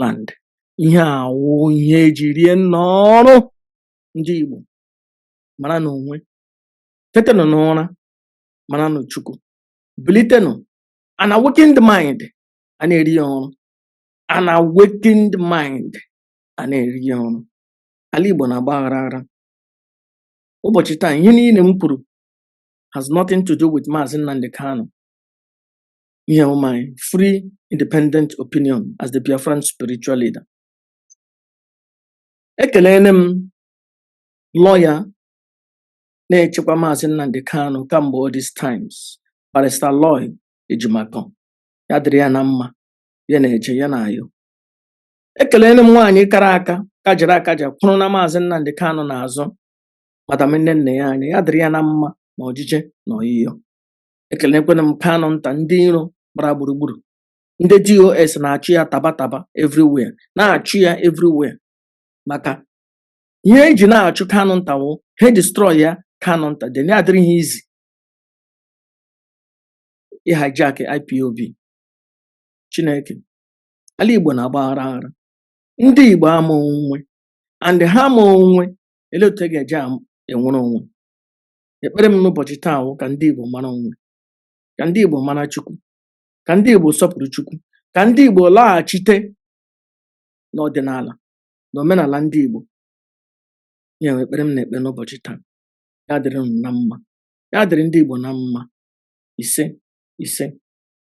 land ihe a wụ ihe eji rie n'ọrụ ndị Igbo maranụ onwe tetenụ n'ụra maranụ Chukwu bilitenụ an awakened mind a na-eri ya ọrụ an awakened mind a na-eri ya ọrụ ala Igbo na-agba aghara aghara ụbọchị taa ihe niile m kwuru has nothing to do with Maazị Nnamdi Kanu ihe a wụ my free independent opinion as the Biafran spiritual leader ekelene m lawyer na-echekwa maazị Nnamdi Kanu kamgbe all these times barrister Aloy Ejimakor ya dịrị ya na mma ya na-eje ya na-ayọ ekelene m nwaanyị kara aka kajara akaja kwụrụ na maazị Nnamdi Kanu n'azụ madam Nnennaya Anya ya dịrị ya na mma na ọjije na ọyịyọ ekelekwana m Kanunta ndị iro gbara gburugburu ndị DOS na-achụ ya taba taba everywhere na-achụ ya everywhere maka ihe eji na-achụ Kanunta wụ ha destroy ya Kanunta then ya adịrị ha easy ịhijack IPOB Chineke ala Igbo na-agba aghara aghara ndị Igbo ama onwe and ha ama onwe ele otu e ga-eji am- enwere onwe Ekpere m n'ụbọchị taa wụ ka ndị Igbo mara onwe, ka ndị Igbo mara Chukwu, ka ndị Igbo sọpụrụ Chukwu, ka ndị Igbo laghachite n'ọdịnala na omenala ndị Igbo. Ya wụ ekpere m na-ekpe n'ụbọchị taa. Ya dịrị unu na mma. Ya dịrị ndị Igbo na mma. Ise, ise.